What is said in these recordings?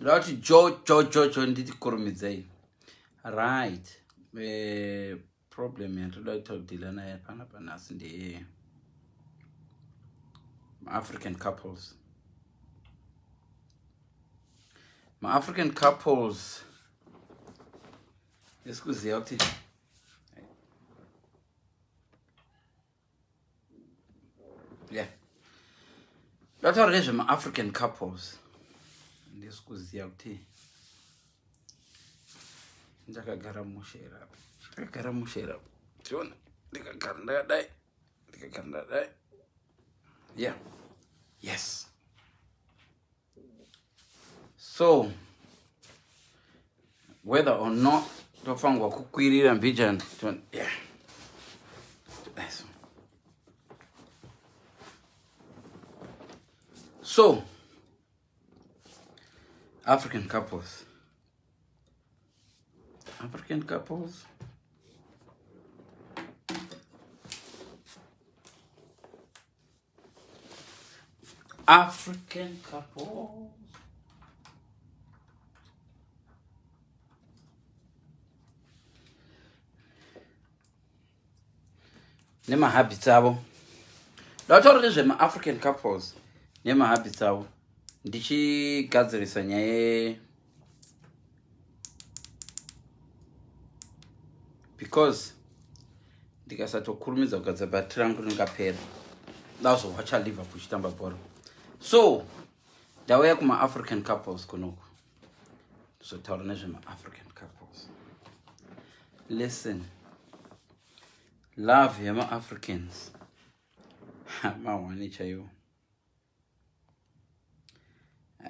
ndoda kuti jojojojo nditi kurumidzei right eh, problem yatoda kuita kudhila naye pana panhasi ndeye maafrican couples maafrican couples esikuziva kuti yeah ndataura nezvemaafrican couples handisi kuziva kuti ndakagara mushe here apa ndakagara mushe here apa tiona ndikagara ndakadai ndikagara ndakadai yeah yes so whether or not tofanirwa kukwirira mbijana yeah. so african couples african couples African couple. nemahabits avo ndataura nezvemaafrican couples nemahabits avo ndichigadzirisa nyaya because ndikasatokurumidza kugadzira bhati rangu ringapera ndazowacha liverpool chitamba bhora so ndauya kumaafrican couples kunoku ndizotaura nezvemaafrican couples listen love yemaafricans mawani chaiwo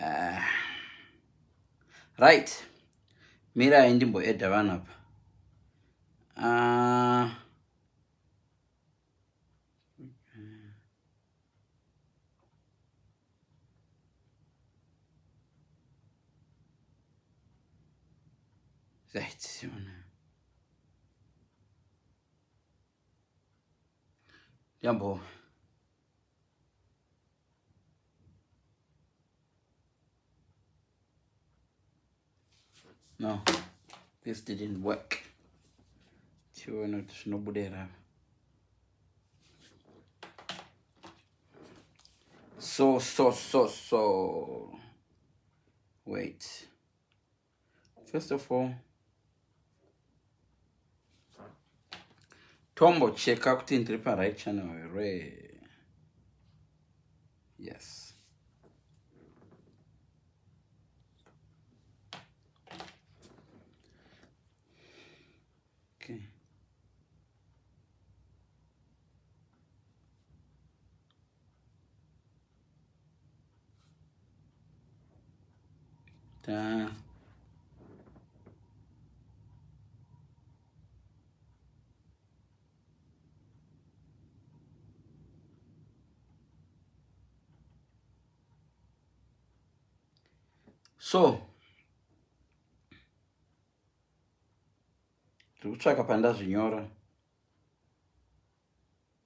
uh, right mirai ndimboedha vanhu apa uh, right jambo no this didn't work tione kuti zvinobuda here so so so so wait first of all tombocheka kuti ndiri paright channel here yes okay Ta. so tiri kutsvaka pandazvinyora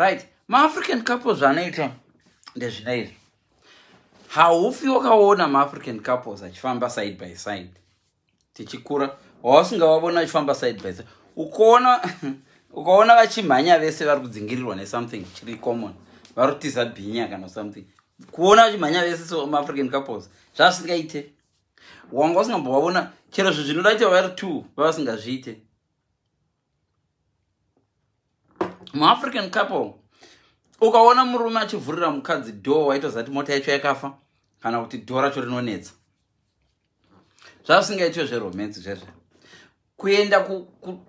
right maafrican couples zvanoita ndezvina izvi haufi wakaona maafrican couples achifamba side by side tichikura wausingavavona achifamba side by side ukaona ukaona vachimhanya vese vari kudzingirirwa nesomething chiri common vari kutiza bhinya kana something kuona vachimhanya vese so maafrican couples zvazvisingaite wanga usingambovavona chero zvinhu zvinoda kuti vavari two vavasingazviite muafrican couple ukaona murume achivhurira mukadzi dhoo waitoziva kuti mota yacho yakafa kana kuti dhoo racho rinonetsa zvasingaitwe zveromance zvezve kuenda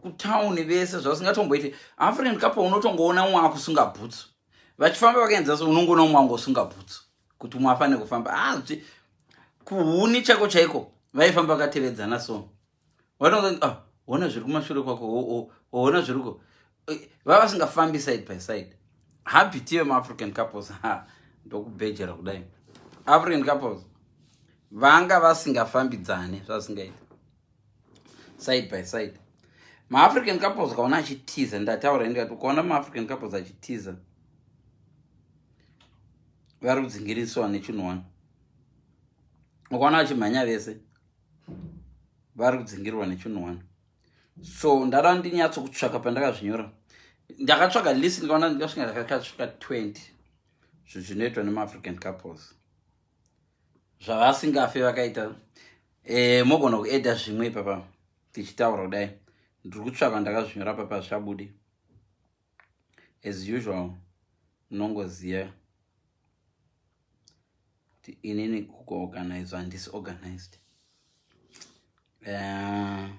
kutauni vese zvasingatomboite african couple unotongoona umwe akusunga bhutsu vachifamba vakaenza so unongoona umwe angosunga bhutsu kuti umwe afanire kufamba azvi ah, kuhuni chako chaiko vaifamba vakatevedzana so vanonge ah, hona zviri kumashure kwako hona zviriko eh, vava vasingafambi side by side habiti vemaafrican couples ha ndokubhejera kudai african couples vanga vasingafambidzane zvasingaita side by side maafrican couples ukaona achitiza ndataura ende kati ukaona maafrican couples achitiza vari kudzingiriswa nechinhu wani ukaona vachimhanya vese vari kudzingirirwa nechinhu one so ndada ndinyatso kutsvaka pandakazvinyora ndakatsvaga list ndikaona ndikasvika ndakakatsvika 20 zvinhu zvinoitwa nemaafrican couples zvavasingafe vakaita e, mogona kueda zvimwe ipapa tichitaura kudai ndiri kutsvaka ndakazvinyora papa zvichabudi as usual munongoziva kuti inini kukuorganize handisi organized uh,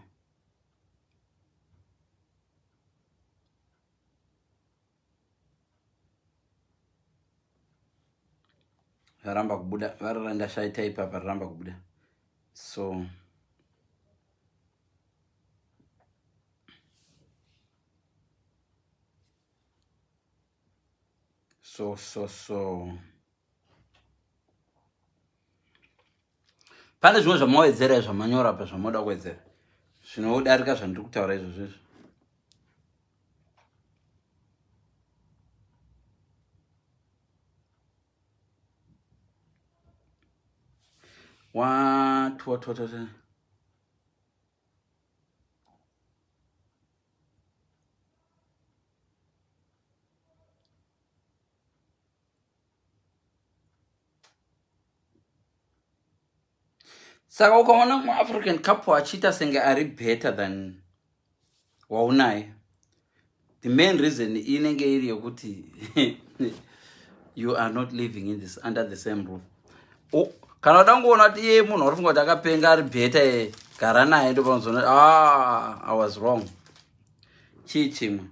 varamba kubuda vararandashaita ipapa raramba kubuda so so so so pane zvimwe zvamawedzera zvamanyora pa zvamoda kuwedzera zvinodarika zvandiri kutaura izvo zvezvo watwatwatwata saka ukaona mumwe african couple achiita senge ari better than waunaye the main reason inenge iri yokuti you are not living in this under the same roof oh, kana uda kungoona kuti iye munhu wari funga kuti akapenga ari bheta e gara naye ndopanozoona ah, i was wrong chii chimwe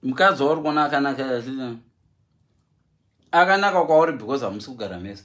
mukadzi wauri kuona akanaka akanaka kwauri because hamusi kugara mese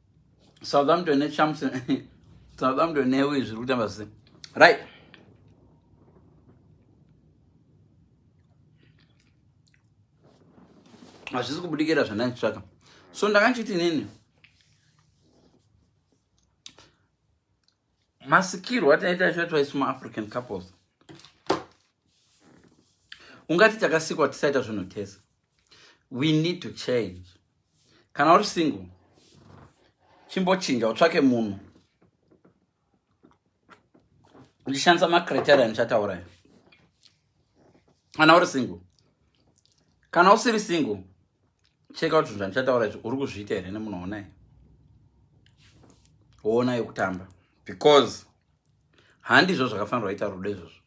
Southampton ne champs Southampton ne uyu zviri kutamba se right hazvisi kubudikira zvandanditsvaka so ndakachiti nini masikirwo ataita icho twaisi muafrican couples ungati takasikwa tisaita zvinhu tese we need to change kana uri single chimbochinja utsvake munhu uchishandisa macriteria ndichataura ya kana uri single kana usiri single cheka kuti zvinhu zvandichataura izvi uri kuzviita here nemunhu wonai woona yekutamba because handizvo zvakafanirwa ita rudo izvozvo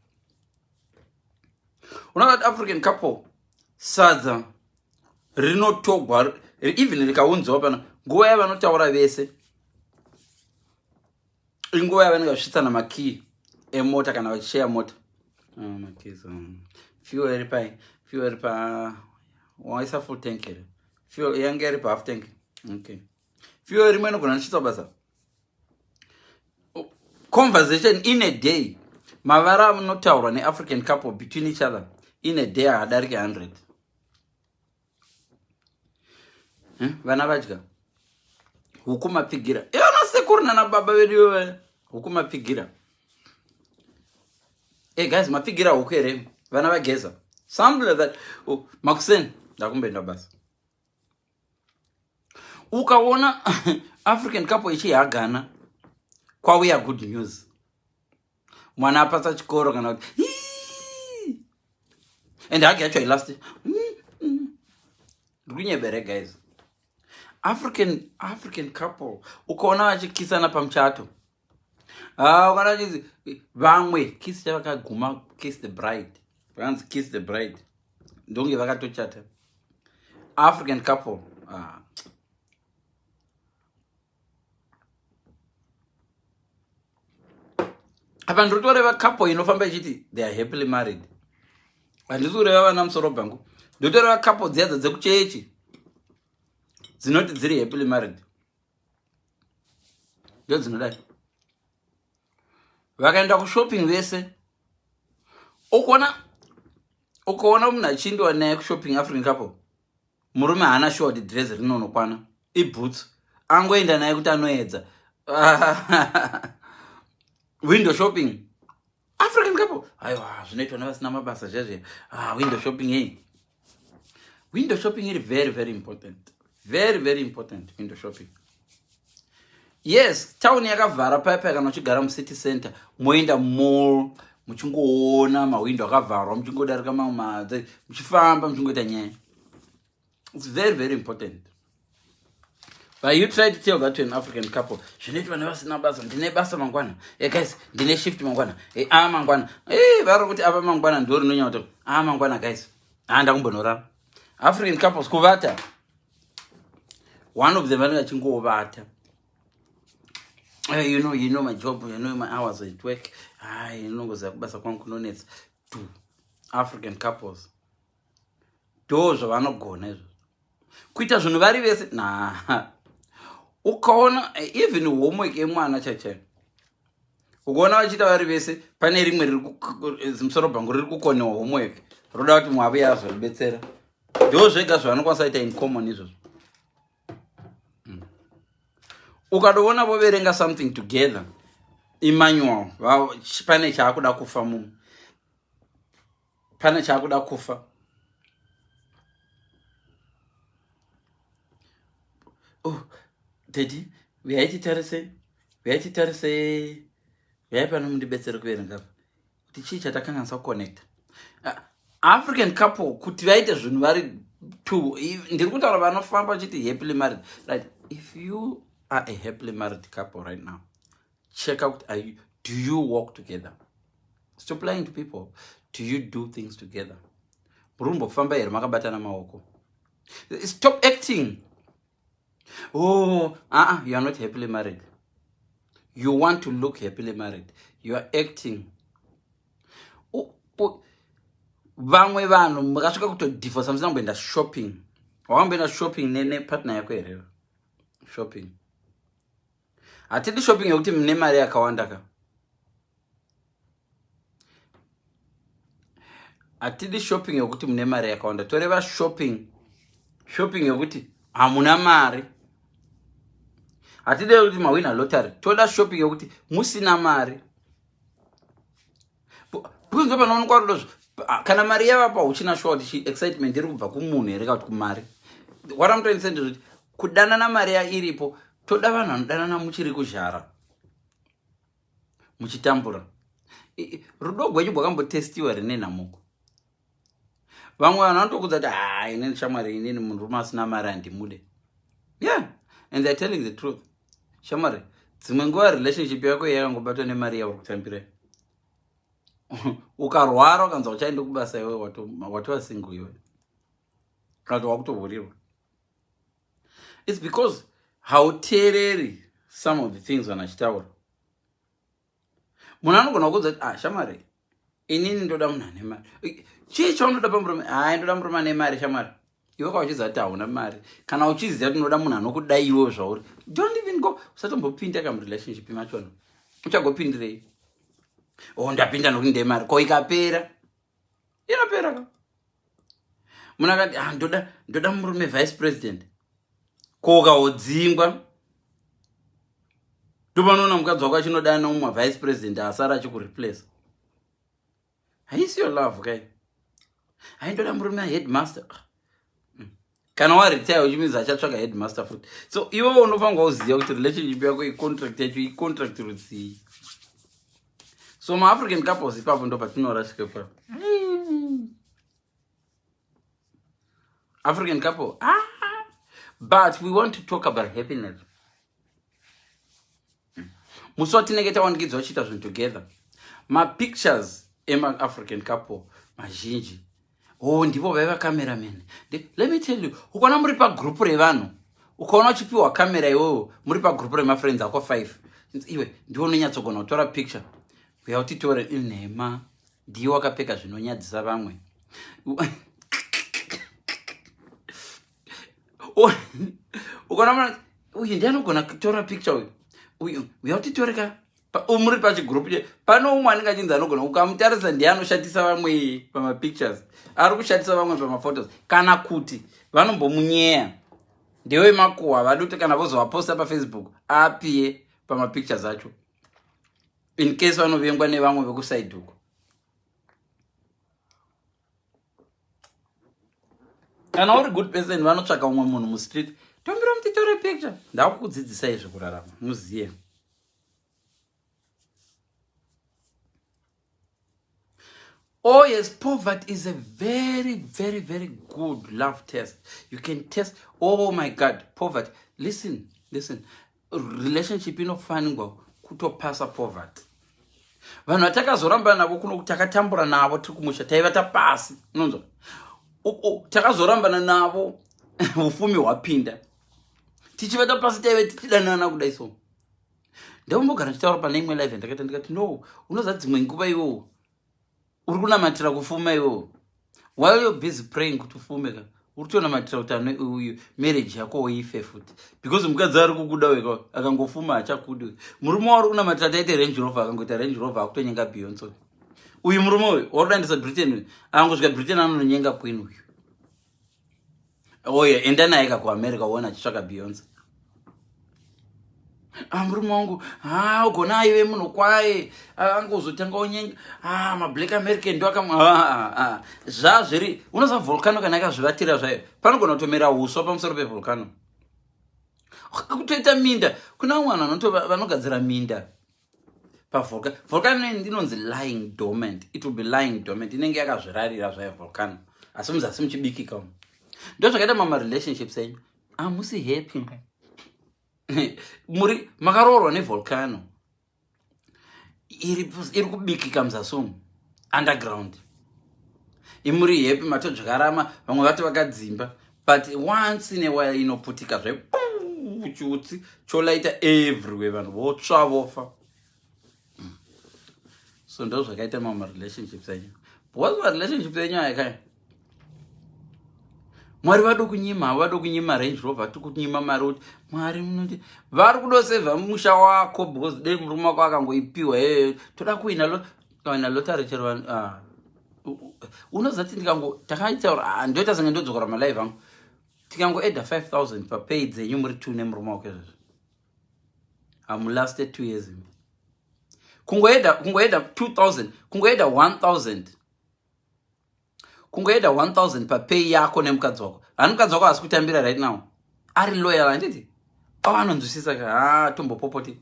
unoa african couple sadza rinotogwa even rikaunziwa pano nguva yavanotaura vese inguva yavanenge vachisvitsana makiyi emota kana vachisheya mota fuel iri pai fuel iri pa waisa full tank here fuel yange iri pa half tank okay fuel rimwe inogona ndichitsa basa conversation in a day mavara anotaurwa neafrican couple between each other in a day haadarike 100 eh, vana vadya huku mapfigira ivana sekuru nana baba vedu iwe huku mapfigira e eh, guys mapfigira huku here vana vageza something like that oh, makuseni ndakumbenda basa ukaona african couple ichihagana kwauya good news mwana apasa chikoro kana kuti and hagi yacho ilast ndikunyebere guys african african couple ukaona vachikisana pamuchato Ah, kana chinzi vamwe kiss chavakaguma kiss the bride vakanzi kiss the bride ndonge vakatochata african couple ah. apa ndiri kutoreva couple inofamba ichiti they are happily married handisi kureva vana musoro bhangu ndotoreva couple dziyadzo dzekuchechi dzinoti dziri happily married ndodzinodai vakaenda kushopping vese ukona ukaona munhu achindiwa naye kushopping african couple murume haana shuwa kuti dress rinonokwana iboots angoenda naye kuti anoedza window shopping african couple aiwa zvinoitwa nevasina mabasa zvezve ah, window shopping hei window shopping iri very very important very very important window shopping yes town yakavhara paya paya kana uchigara mucity center moenda mall muchingoona mawindo akavharwa muchingodarika mamwe madzi muchifamba muchingoita nyaya its very very important but you try to tell that to an african couple zvinoitwa nevasina basa ndine basa mangwana e guys ndine shift mangwana e a mangwana e vari kuti ava mangwana ndo rinonyauta a mangwana guys haa ndakumbonorara african couples kuvata one of them vanenge achingovata eh, you know you know my job you know my hours at work ah, inongoziva kubasa kwangu kunonetsa to african couples ndoo zvavanogona izvo kuita zvinhu vari vese na ukaona eh, even homework yemwana chaichai ukaona vachiita vari vese pane rimwe rimusoro bhangu riri kukonewa homework roda kuti mwave yazoribetsera ndoo zvega zvavanokwanisa ita in common izvozvo hmm. ukatovona voverenga something together imanual pane chaakuda kufa mumwe pane chaakuda kufa oh, dedi huyai titarise huyai titarise huyai pano mundibetsere kuverenga kuti chii chatakanganisa kuconnecta ah, african couple kuti vaite zvinhu vari two ndiri kutaura vanofamba vachiti happily married right if you are a happily married couple right now check out are you do you walk together stop lying to people do you do things together muri kumbofamba here makabatana maoko stop acting oh uh-uh, you are not happily married you want to look happily married you are acting vamwe vanhu makasvika kutodivorsa musina kumboenda shopping wakamboenda shopping nepartner yako here shopping hatidi shopping yekuti mune mari yakawanda ka hatidi shopping yekuti mune mari yakawanda toreva shopping shopping yekuti hamuna mari hatide kuti mawina lottery toda shopping yekuti musina mari because ndo panoonekwa rudo zvo ah, kana mari yavapa uchina shuwa kuti chi excitement iri kubva kumunhu here ka kuti kumari what am trying to say ndezvekuti kudanana mari ya iripo toda vanhu vanodanana muchiri kuzhara muchitambura rudo gwenyu bwakambotestiwa rine nhamuko vamwe vanhu vanotokudza kuti haa ah, inini shamwari inini munhurume asina mari handimude yeah and they're telling the truth shamwari dzimwe nguva relationship yako iye yakangobatwa nemari yauri kutambira ukarwara ukanzwa uchaende kubasa iwe watova single iwe kana wakutovhurirwa its because hauteereri some of the things vanhu achitaura munhu anogona kuudza kuti ah shamwari inini ndoda munhu ane mari chii chaunoda pamurume hai ndoda murume ane mari shamwari iwe ka uchiziva kuti hauna mari kana uchiziva kuti unoda munhu anokudai iwewo zvauri don't even go usatombopinda ka murelationship machona uchagopindirei o oh, ndapinda nokuti ndemari ko ikapera inopera ka munhu akati ah, ndoda ndoda murume vice president koka wodzingwa ndopanoona mukadzi wako achinoda neumwe vice president asara achikureplace haisiyo love kai haindoda murume aheadmaster ah, kana waretire which means achatsvaga headmaster futi so iwe unofanirwa kuziva kuti relationship yako icontract yacho icontract rudzii so maafrican couples ipapo ndo patinorasika ipapo african couple ah, but we want to talk about happiness musi watinenge tawandikidzwa chiita zvinhu together mapictures emaafrican couple mazhinji o oh, ndivo vaiva cameraman let me tell you ukaona muri pagroup revanhu ukaona uchipiwa camera iwoyo muri pagroup remafriends ako five iwe ndiwo unonyatsogona kutora picture uya utitore inhema ndiye wakapfeka zvinonyadzisa vamwe ukaona mwana uyu ndiye anogona kutora picture uyu uyu uya utitoreka muri pachigroup che pane umwe anenge achinzi anogona ukamutarisa ndiye anoshatisa vamwe pamapictures ari kushatisa vamwe pamaphotos kana kuti vanombomunyeya ndewe makuwa vadi kuti kana vozovaposta pafacebook apiye pamapictures acho in case vanovengwa nevamwe vekusaidhuko kana uri good person vanotsvaka umwe munhu mustreet tombira mutitore picture ndakukudzidzisa izvi kurarama muziye oh yes poverty is a very very very good love test you can test oh my god poverty listen listen relationship inofanirwa kutopasa poverty vanhu vatakazorambana navo kuno takatambura navo tiri kumusha taiva tapasi unonzwa takazorambana navo ufumi hwapinda tichiva tapasi taive tichidanana kudai so ndaumbogara ndichitaura pane imwe live yandakaita ndikati no unoza dzimwe nguva iwowo uri kunamatira kufuma iwewo while you're busy praying kuti ufume ka uri kutonamatira kuti ano uyu marriage yako woife futi because mukadzi ari kukuda weka akangofuma hachakudi uyu murume wauri kunamatira taite range rover akangoita range rover akutonyenga beyonson uyu murume uyu wauri kudandisa britain uyu akangosvika britain anononyenga queen uyu oye enda naye ka kuamerica uona achitsvaka beyonce ah, murume wangu ah, ugona aive munhu kwaye ah, angozotanga unyenga mablack american ndo akam zva zviri unoziva volcano kana akazvivatira zvayo panogona kutomera uswa pamusoro pevolcano kutoita minda kuna vamwe vanhu vanogadzira minda pavolcano volcano inonzi lying dormant it will be lying dormant inenge yakazvirarira zvayo volcano asi muzasi muchibikika umu ndo zvakaita mama relationships enyu amusi ah, happy muri makaroorwa nevolcano iri kubikika muzasi umu underground imuri happy matodzvakarama vamwe vati vakadzimba but once in a while inoputika zve chutsi cholaita everywhere vanhu votsva vofa hmm. so ndo zvakaita mamwe relationships enyu because marelationships enyu aya kaya mwari vado kunyima havo vado kunyima range rover vati kunyima mari kuti mwari munoti vari kudosevha musha wako because dei murume wako akangoipiwa ee toda kuina lo kana lotari chero vanhu ah. unozati ndikango takaitaura ah, ndoita senge ndodzokora malive angu tikangoeda 5000 papay dzenyu muri two nemurume wako izvozvo hamulaste two years imi kungoeda kungoeda 2000 kungoeda 1000 kungoeda 1000 papay yako nemukadzi wako hani mukadzi wako hasi kutambira right now ari loyal handiti pavanonzwisisa ka ah, tombopopoti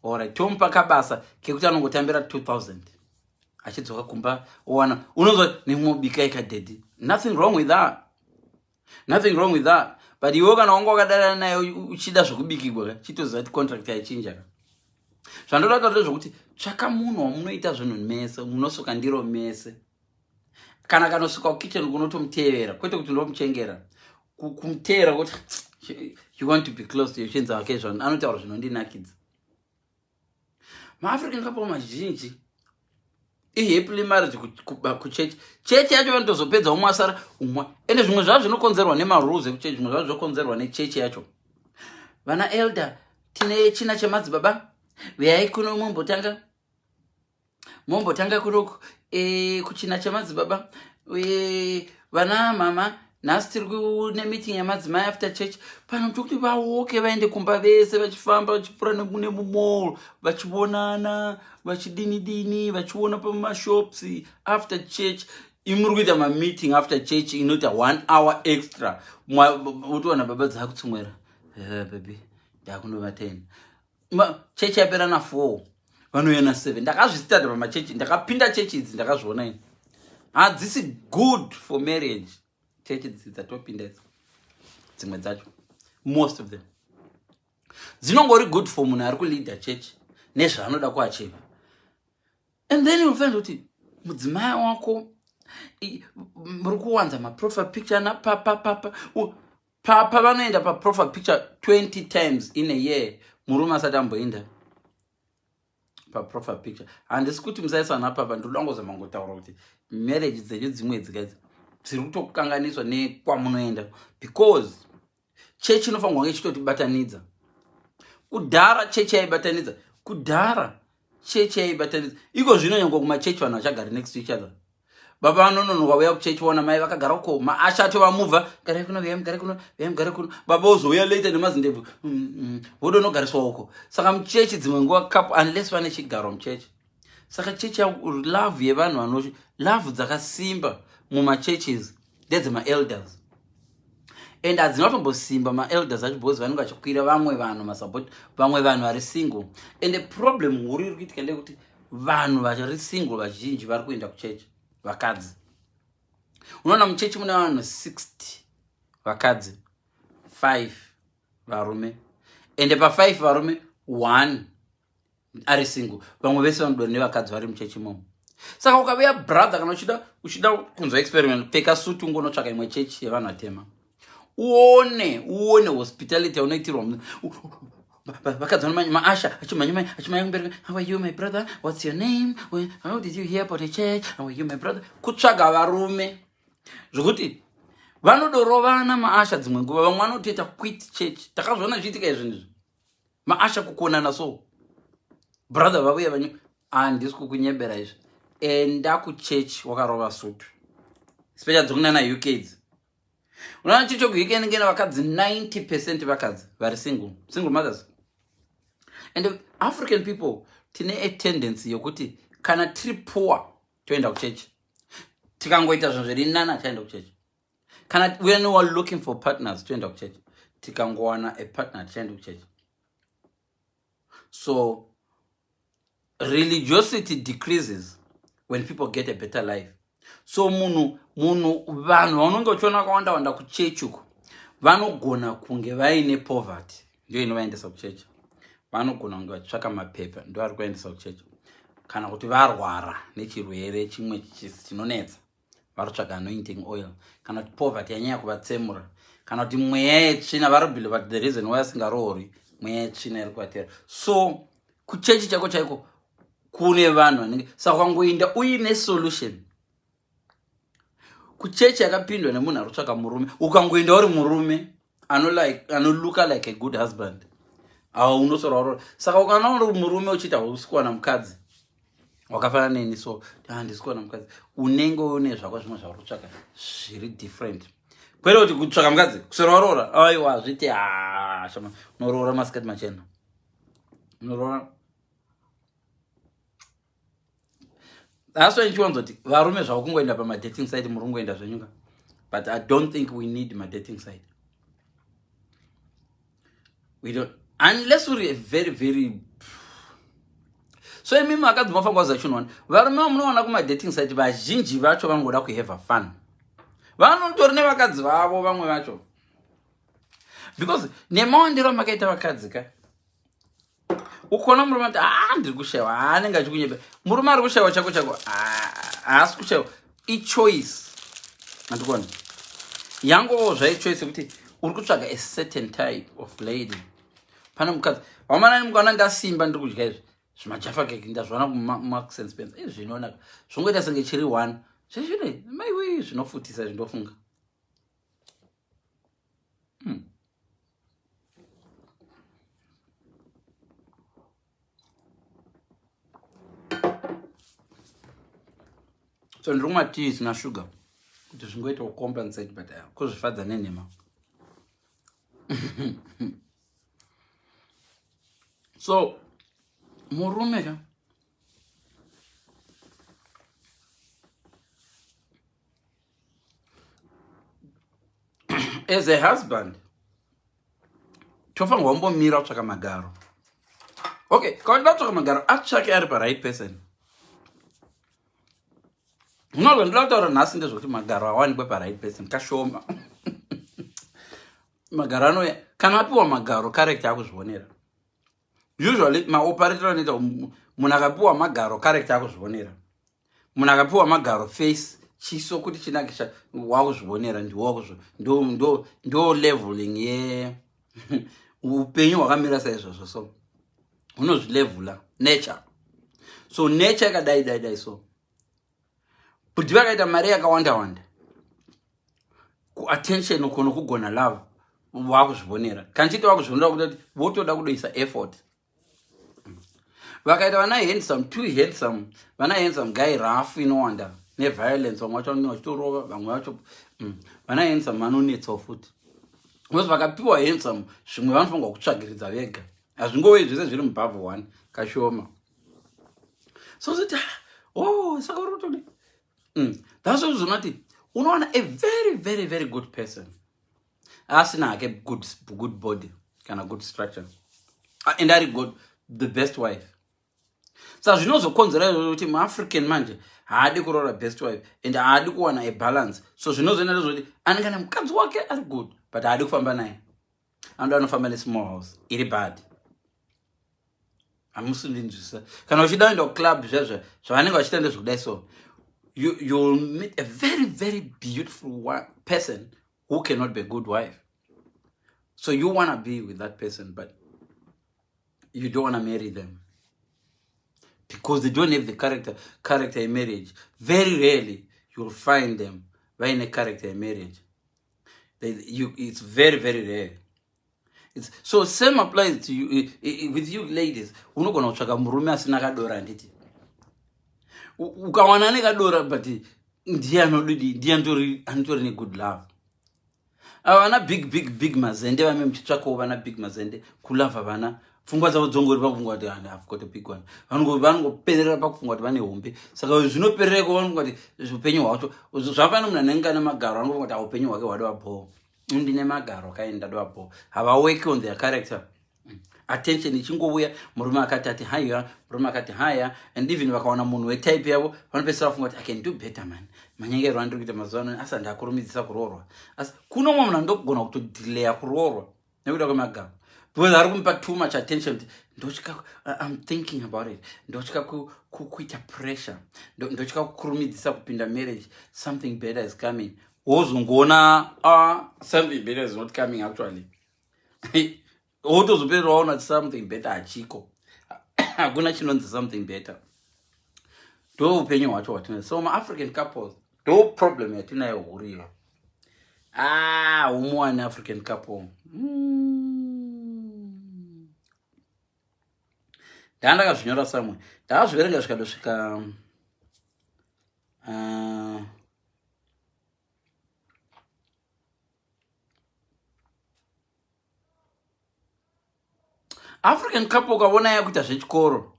orit tomupa kabasa kekuti anongotambira 2000 achidzoka kumba owana unonzwa nemobika ika daddy nothing wrong with that nothing wrong with that but iwe kana wanga wakadarana naye uchida zvekubikigwa ka chitoziva kuti contract yaichinja ka zvandoda kutaura zvekuti tsvaka munhu wamunoita zvinhu mese munosuka ndiro mese kana kanosuka kukitchen kunotomutevera kwete kuti ndomuchengera kumutevera kuti you want to be close to yochinzi ake zvanhu anotaura zvinondinakidza maafrican couple mazhinji ihappily marriage kuchechi chechi yacho vanotozopedza umwe asara umwe ende zvimwe zvavo zvinokonzerwa nemarules ekuchechi zvimwe zvavo zvokonzerwa nechechi yacho vana elder tine china chemadzibaba veyai kuno umwe mbotanga mombotanga kuroko e, kuchina chamadzibaba e, vana mama nhasi tiri kune meeting yamadzimai after church pano tiri kuti vaoke vaende kumba vese vachifamba vachipfuura nekune mumall vachionana vachidini dini vachiona pamashops after church imuri kuita mameeting after church inoita one hour extra otiwana baba dzaakutsumwera eh, baby ndakunovatena chechi yapera na four vanouya na seven ndakazvistata pamachechi ndakapinda chechi idzi ndakazviona ini hadzisi good for marriage chechi dzi dzatopinda idzi dzimwe dzacho most of them dzinongori good for munhu ari kuleader chechi nezvaanoda kuachiva and then you find kuti mudzimai wako muri kuwanza maprofile picture napapapapa papa vanoenda paprofile picture 20 times in a year murume asati amboenda paprofile picture handisi kuti musaisa ana papa ndinoda ngozama ngotaura kuti marriage dzenyu dzimwe dzikaidzi dziri kutokukanganiswa nekwamunoenda because chechi inofanirwa kunge ichitotibatanidza kudhara chechi yaibatanidza kudhara chechi yaibatanidza iko zvino nyange kumachechi vanhu vachagari next to each other baba vanonono vauya kuchechi vaona mai vakagara uko maasha acho vamuva garai kuno viyai mugare kuno viyai mugare kuno baba vozouya later nemazindebvu mm, mm, vodonogariswa uko saka muchechi dzimwe nguva kapu unless vane chigaro muchechi saka chechi love yevanhu vano love dzakasimba mumachurches ndedze maelders and hadzina kutombosimba maelders acho because vanenge vachikwira vamwe vanhu masupport vamwe vanhu vari single and the problem huru iri kuitika ndeyekuti vanhu vari single vazhinji vari kuenda kuchechi vakadzi unoona muchechi mune vanhu 60 vakadzi 5 varume ende pa5 varume 1 ari single vamwe vese vanodwa nevakadzi vari muchechi momo saka ukaveya brother kana uchida uchida kunzwa experiment pfeka suti ungonotsvaka imwe chechi yevanhu vatema uone uone hospitality yaunoitirwa vakadzi vano maasha achimhanyamanya achimhanya kumbereka how are you my brother what's your name how did you hear about a church how are you my brother kutsvaga varume zvekuti vanodorovana maasha dzimwe nguva vamwe vanotoita quit church takazviona zviitika izvinizvi maasha kukonana so brother vavuya vanyu handisi ah, kukunyebera izvi enda kuchurch wakarova sutu special dzokunana uk idzi unoona chiri chokuuk nengena vakadzi 90 percent vakadzi vari single single mothers and african people tine a tendency yokuti kana tiri poor toenda kuchechi tikangoita zvinhu zviri nana taenda kuchechi kana when you are looking for partners toenda kuchechi tikangowana a partner tichaenda kuchechi so religiosity decreases when people get a better life so munhu munhu vanhu vaunenge uchiona vakawanda wanda kuchechi uko vanogona kunge vaine poverty ndiyo inovaendesa kuchechi vanogona kunge vachitsvaka mapepa ndo ari kuendesa kuchechi kana kuti varwara nechirwere chimwe chinonetsa varotsvaga anointing oil kana kuti poverty yanyaya kuvatsemura kana kuti mweya yetsvina varobhile but the reason why asingaroori mweya yetsvina iri kuvatera so kuchechi chaiko chaiko kune vanhu vanenge saka ukangoinda uine solution kuchechi yakapindwa nemunhu ari kutsvaka murume ukangoinda uri murume ano like ano looka like a good husband awa unosora warora saka ukana uri murume uchiita usikuwana mukadzi wakafanana neni so ah, ndisikuwana mukadzi unenge une zvako zvimwe zvauri kutsvaka zviri different kwete kuti kutsvaka mukadzi kusora warora aiwa hazviti ah, shama unoroora masikati machena unoroora that's why ndichiwanzoti varume zvavo kungoenda pamadating site muri kungoenda zvenyuka but i don't think we need madating site we don't unless uri very very so imimi vakadzi mafanga wazachinoona varume vamunoona kumadating site vazhinji vacho vanongoda kuhave fun vanotori nevakadzi vavo vamwe vacho because nemaondero amakaita vakadzi ka ukaona murume ati haa ah, ndiri kushaiwa haa ah, anenge achikunyepa murume ari kushaiwa chako chako ah, haasi kushaiwa ichoice andikona yangovawo zvaichoice yekuti uri kutsvaga a certain type of lady pane mukadzi wamanani mukaona ndasimba ndiri kudya izvi zvimajafa keke ndazviona kumax and spence izvi zvinoonaka zvongoita senge chiri one zvizvine maiwei zvinofutisa izvi ndofunga hmm. so ndiri kumwa tii isina shuga kuti zvingoita kucompensate but uh, kuzvifadza nenhema so murume ka as a husband tofanirwa kumbomira kutsvaka magaro okay kawaida kutsvaka magaro atsvake ari paright person no zvandoda kutaura nhasi ndezvokuti magaro awanikwe paright person kashoma magaro anoya kana apiwa magaro character akuzvionera usually maoperator anoita munhu akapiwa magaro character akuzvionera munhu akapiwa magaro face chiso kuti chinakisha wakuzvionera ndiwo leveling ye upenyu hwakamira saizvozvo so unozvilevula nature so nature ikadai dai dai so bhudhi vakaita mari yakawanda wanda kuattention uko nokugona love vakuzvivonera kanchiti vakuzvivonera kutoti votoda kudoisa effort vakaita vana handsome too handsome vana handsome guy rough inowanda neviolence vamwe vacho vanenge vachitorova vamwe vacho mm, vana handsome vanonetsawo futi because vakapiwa handsome zvimwe vanofanirwa kutsvagiridza vega hazvingowe zvese zviri mubhavhu one kashoma so zoti ah, oh saka uri kutodi mm. that's why zvinoti unoona a very very very good person asina hake good, good body kana good structure ah, and ari good the best wife sa zvinozokonzera izvozvo kuti muafrican manje haadi kuroora best wife and haadi kuwana abalance so zvinozoenda zvoti anenge ane mukadzi wake ari good but haadi kufamba naye anoda anofamba nesmall house iri bad hamusi ndinzwisisa kana uchida uenda kuclub zvezve zvavanenge vachiita ndezvekudai so you, you will meet a very very beautiful person who cannot be a good wife so you wanna be with that person but you don't wanna marry them because they don't have the character character in marriage very rarely you will find them vaine character in marriage it's very very rare it's, so same applies to you eh, eh, eh, with you ladies unogona kutsvaka murume asina kadora handiti ukawana ane kadora but ndiye anodidi ndiye anotori negood love ava vana big big big mazende vame muchitsvakawo vana big mazende kulava vana pfungwa dzavo dzongori pakufunga kuti and have got a big one vanongoperera pakufunga kuti vane hombe saka zvinoperera iko vanofunga kuti upenyu hwacho zvafana munhu anenge ane magaro anofunga kuti aupenyu hwake hwadova bhoo ndine magaro kaini ndadova bhoo havawork on their character attention ichingouya murume akati ati haya murume akati haya and even vakawana munhu wetype yavo vanopesera vafunga kuti i can do better man manyengerwa andiri kuita mazuva ano asi handakurumidzisa kuroorwa asi kuno mwe munhu andokugona kutodilaya kuroorwa nekuda kwemagama because ari kumupa too much attention kuti ndotya im thinking about it ndotya kuita pressure ndotya kukurumidzisa kupinda marriage something better is coming wozongoona ah, something better is not coming actually wotozopera waona kuti something better hachiko hakuna chinonzi something better ndoupenyu hwacho hwatina so maafrican couples ndo problem yatinayo huru iyo ah umu one african couple mm. ndaa ndakazvinyora samwe ndakazviverenga zvikadosvika uh, african couple ukavona yakuita zvechikoro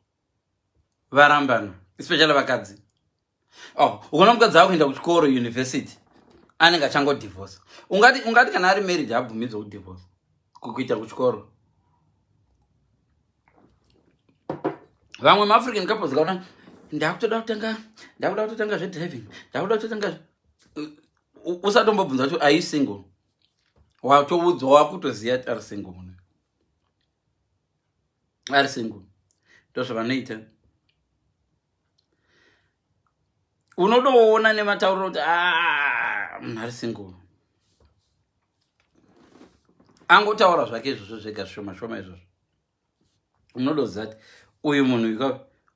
varambana especially vakadzi oh ukaona mukadzi ava kuenda kuchikoro university anenge achangodivhosa ungati ungati kana ari marriage abvumidzwa kudivhosa kukuita kuchikoro vamwe maafrican couples kaona ndakutoda kutanga ndakuda kutotanga zvedriving ndakuda kutotanga usatombobvunza kuti are you single watoudzwa wakutoziva ari single mune ari single ndozvavanoita unodoona nematauriro kuti ah, munhu ari single angotaura zvake izvozvo zvega zvishoma shoma izvozvo unodoziva kuti uyu munhu ika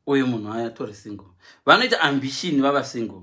uyu munhu atori single vanoita ambition vava single